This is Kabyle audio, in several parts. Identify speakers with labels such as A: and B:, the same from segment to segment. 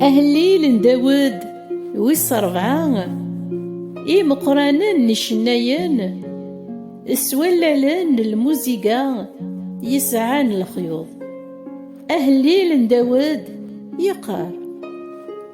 A: Ahellil n Dawed wis rebɛa Imeqqranen n icennayen s wallalen n lmuziga yesɛan lexyuḍ Ahellil n Dawed yeqqar.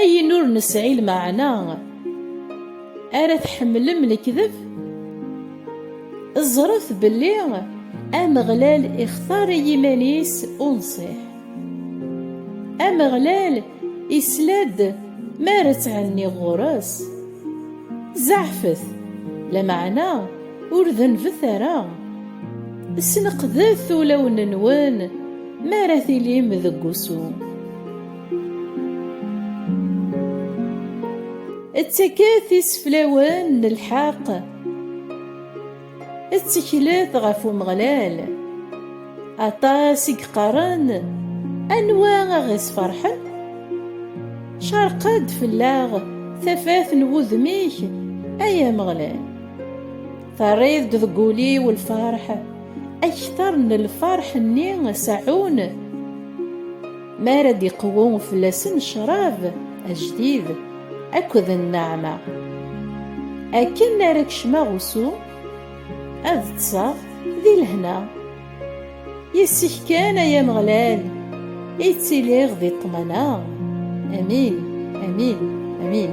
A: Ayen ur nesɛi lmeɛna ara tḥemmlem lekdeb? Ẓret belli Ameɣlal ixtar i yiman-is unṣiḥ. Ameɣlal isla-d mi ara tthenniɣ ɣur-s. Zeɛfet, lameɛna ur denbet ara. Sneqdet ulawen-nwen mi ara tilim deg wusu. Ttaket iseflawen n lḥeqq, tteklet ɣef Umeɣlal. Aṭas i yeqqaren, Anwa a ɣ-isferḥen? Cerq-d fell-aɣ tafat n wudem-ik, ay Ameɣlal. Terriḍ-d deg wul-iw lferḥ, akter n lferḥ-nni seɛɛun. mi ara d-iqwu fell-asen ccrab ajdid akked nneɛma. Akken ara kecmeɣ usu, ad ṭṭseɣ di lehna. Yes-k kan, ay Ameɣlal, i ttiliɣ di ṭṭmana. Amin, amin, amin.